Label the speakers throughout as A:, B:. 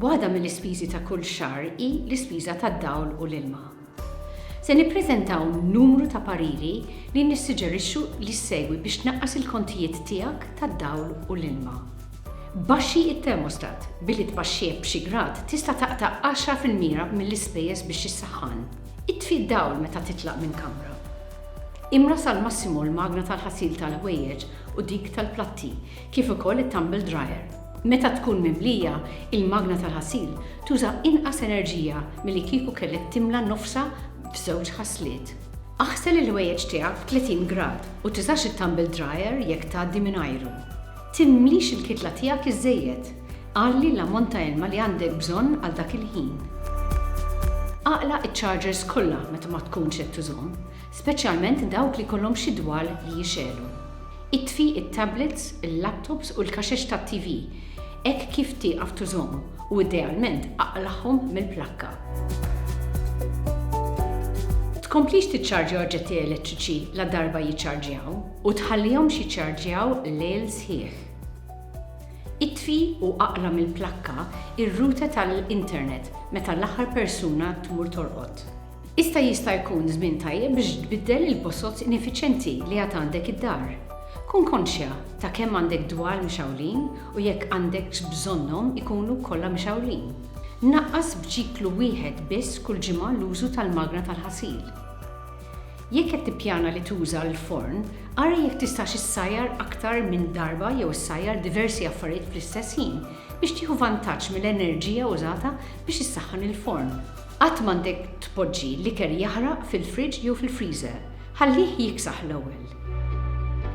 A: Waħda mill-ispiżi ta' kull xahar hi l-ispiża tad-dawl u l-ilma. Se nippreżentaw numru ta' pariri li nissuġġerixxu li ssegwi biex tnaqqas il-kontijiet tiegħek tad-dawl u l-ilma. Baxxi t-termostat, billi tbaxxih b'xi grad tista' taqta' għaxra fil-mira mill-ispejjeż biex issaħħan. Itfi d-dawl meta titlaq minn kamra. Imra sal-massimu l-magna tal-ħasil tal-ħwejjeġ u dik tal-platti, kif ukoll it-tumble dryer. Meta tkun mimlija, il-magna tal-ħasil tuża inqas enerġija milli kieku kellek timla nofsha f'żewġ ħasliet. Aħsel il-ħwejjeġ tiegħek f'tletin grad u tiżax it-tumble dryer jekk tgħaddi mingħajru. Timlix il-kitla tiegħek iżżejjed. Għalli l-ammont ta' ilma li għandek bżonn għal dak il-ħin. Aqla' iċ-chargers kollha meta ma tkunx qed tużhom, speċjalment dawk li jkollhom xi dwal li jixegħlu. Itfi t-tablets, il-laptops u l-kaxex tat-TV hekk kif tieqaf tużhom u idealment aqlagħhom mill-plakka. Tkomplix tiċċarġja oġġetti elettriċi ladarba jiċċarġjaw. U tħallihomx jiċċarġjaw lejl sħiħ. Itfi u aqla' mill-plakka r-router tal-internet meta l-aħħar persuna tmur torqod. Issa jista' jkun żmien tajjeb biex tbiddel il-bosoz ineffiċjenti li għad għandek id-dar. Kun konxja ta' kemm għandek dwal mixgħulin u jekk għandekx bżonnhom ikunu kollha mixgħulin. Naqqas b'ċiklu wieħed biss kull ġimgħa l-użu tal-magna tal-ħasil. Jekk qed tippjana li tuża l-forn, ara jekk tistax issajjar aktar minn darba jew issajjar diversi affarijiet fl-istess ħin biex tieħu vantaġġ mill-enerġija użata biex issaħħan il-forn. Qatt m'għandek tpoġġi l-ikel jaħraq fil-friġġ jew fil-freezer. Ħallih jiksaħ l-ewwel.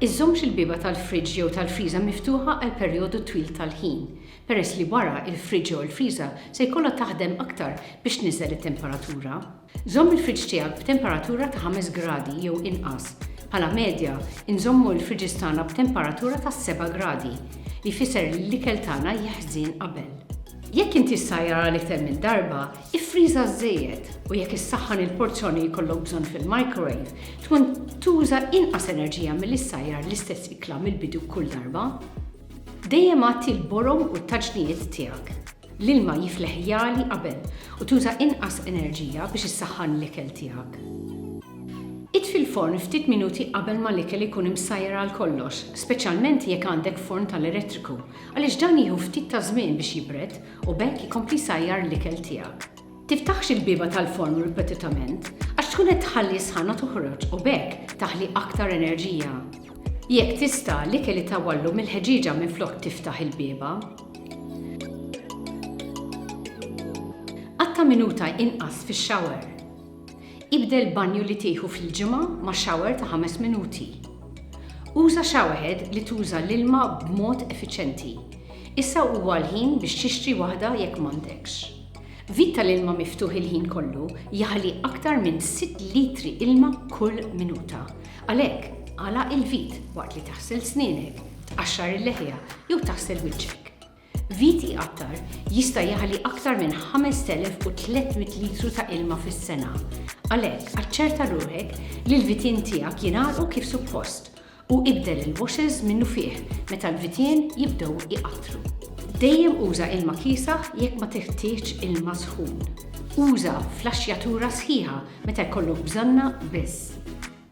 A: Iżżommx il-bieba tal-friġġ jew tal-freezer miftuħa għal perjodu twil tal-ħin, peress li wara il-friġġ jew il-freezer se jkollha taħdem aktar biex tniżżel it-temperatura. Żomm il-friġġ tiegħek b'temperatura ta' ħames gradi jew inqas. Bħala medja, inżommu l-friġġis tagħna b'temperatura ta' seba' gradi, li jfisser li l-ikel tagħna jeħżien qabel. Jekk inti ssajjar għal iktar minn darba, iffriża żżejjed, u jekk issaħħan il-porzjoni li jkollok bżonn fil-microwave, tkun tuża inqas enerġija milli ssajjar l-istess ikla mill-bidu kull darba. Dejjem għatti l-borom u t-taġnijiet tiegħek. L-ilma jifleħ jagħli qabel u tuża inqas enerġija biex issaħħan l-ikel tiegħek. Itfi l-forn ftit minuti qabel ma l-ikel ikun imsajjar għal kollox, speċjalment jekk għandek forn tal-elettriku, għaliex dan jieħu ftit ta' żmien biex jibred u b'hekk ikompli jsajjar l-ikel tiegħek. Tiftaħx il-bieba tal-forn ripetitament għax tkun qed tħalli s-sħana toħroġ u b'hekk taħli aktar enerġija. Jekk tista', l-ikel itawwallu mill-ħeġieġa minflok tiftaħ il-bieba. Qatta' minuta inqas fix-shower. Ibdel banju li tieħu fil-ġimgħa ma' shower ta' ħames minuti. Uża showerhead li tuża l-ilma b'mod effiċjenti. Issa huwa l-ħin biex tixtri waħda jekk m'għandekx. Vit tal-ilma miftuħ il-ħin kollu jaħli aktar minn sitt litri ilma kull minuta. Għalhekk, agħlaq il-vit waqt li taħsel snienek. Tqaxxar il-leħja jew taħsel wiċċek. Viti Attar jista' jaħli aktar minn 5,300 litru ta' ilma fis-sena. Għalhekk, aċċerta ruħek li l-vitien tiegħek jingħalqu kif suppost u ibdel il-washers minnufih meta l-vitien jibdew iqattru. Dejjem uża ilma kiesaħ jekk ma teħtieġx ilma sħun. Uża flaxxjatura sħiħa meta jkollok bżonnha biss.